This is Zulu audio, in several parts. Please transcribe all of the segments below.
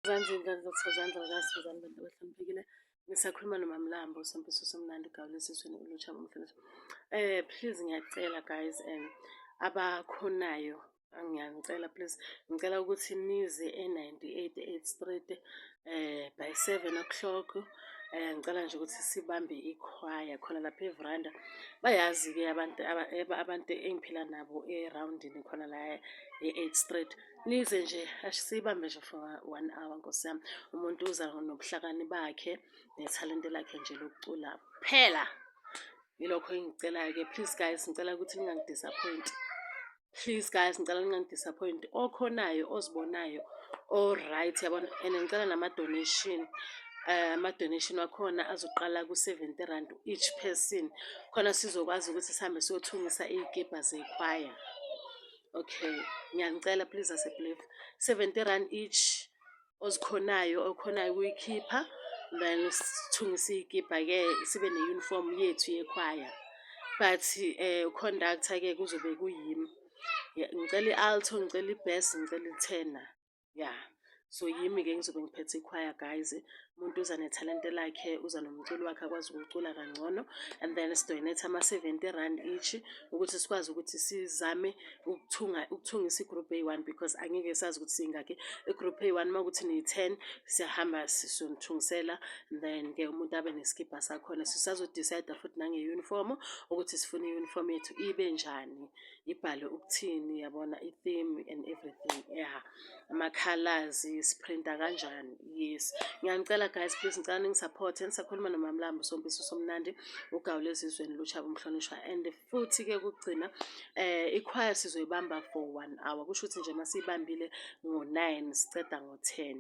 Manje ingane zokuzandla bakasizani bantu abahloniphekile ngisakhuluma nomamlambo usempiso somnandi ugawula esiswini ulutsha ngomhlonipho eh please ngiyacela guys um abakhonayo ngiyangicela please ngicela ukuthi nize e-98 8 street eh by 7 o'clock eh ngicela nje ukuthi sibambe ikhwaya khona lapha evranda bayazi-ke abantu abantu engiphila nabo erawundini khona la e-8 street eh, Nize nje asiyibambe nje for one hour nkosi yami umuntu uza nobuhlakani bakhe nethalente lakhe nje lokucula phela yilokho engicelayo-ke please guys ngicela ukuthi ningangidisappoint please guys ngicela ningangidisappoint okhonayo ozibonayo o-right yabona and ngicela nama-donation Eh, ama-donation wakhona azoqala ku-seventy rand each person khona sizokwazi ukuthi sihambe siyothungisa iy'kebha zekhwaya Okay, ngiyanicela please aseblef. 70 rand each ozikhonayo okhonayo ukuyikhipha then sithungise iyikipa ke sibe ne uniform yethu yekhwaya. But eh conductor ke kuzobe kuyimi. Ngicela ialto, ngicela ibass, ngicela ithena. ya yeah. so yimi ke ngizobe ngiphethe ikhwaya guys umuntu uza nethalente lakhe uza nomculo wakhe akwazi ukucula kangcono and then sidonate ama-seventy rand each ukuthi sikwazi ukuthi sizame ukuthunga ukuthungisa igroup a one because angeke sazi ukuthi siyingakhi igroup a one uma ukuthi niyi-ten siyahamba sisonithungisela then ke umuntu abe nesikibha sakhona sisazodicida futhi nange-uniform ukuthi sifune i-uniform yethu ibe njani ibhalwe ukuthini yabona i-theme and everything ya amakhalazi siphrinta kanjani yes ngiyanicela guys please ngicela ningisapothe nisakhuluma nomamlambo sompiso somnandi ugawule ezizweni lushaba umhlonishwa and futhi-ke kugcina um ikhwaya sizoyibamba for one hour kusho ukuthi nje masiyibambile ngo-nine siceda ngo-ten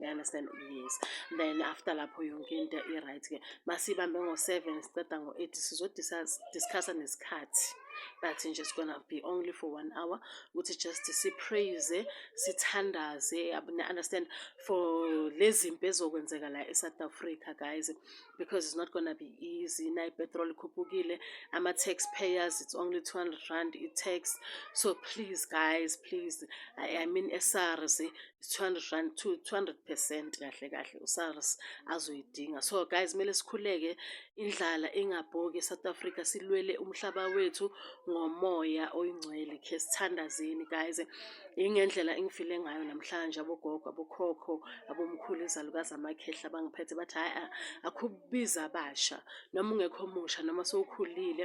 you understand yes then after lapho yonke into i-right-ke masiyibambe ngo-seven siceda ngo-eight sizodiscussa nesikhathi but nje it's gonna be only for one hour ukuthi just sipraise sithandaze understand for lezi mpi ezokwenzeka la e-south africa guys because it's not gonna be easy na ipetrol ikhuphukile ama-tax payers it's only 200 rand i-tax so please guys please i, I mean esars 200 rand 200 percent kahle kahle uSARS azoyidinga so guys kumele sikhuleke indlala ingabhoki eSouth Africa silwele umhlaba wethu ngomoya oyingcwele khe sithandazeni guys ingendlela engifile ngayo namhlanje abogogo abokhokho abomkhulu izalukazi amakhehla bangiphethe bathi hayi akhubiza abasha noma ungekho musha noma sowukhulile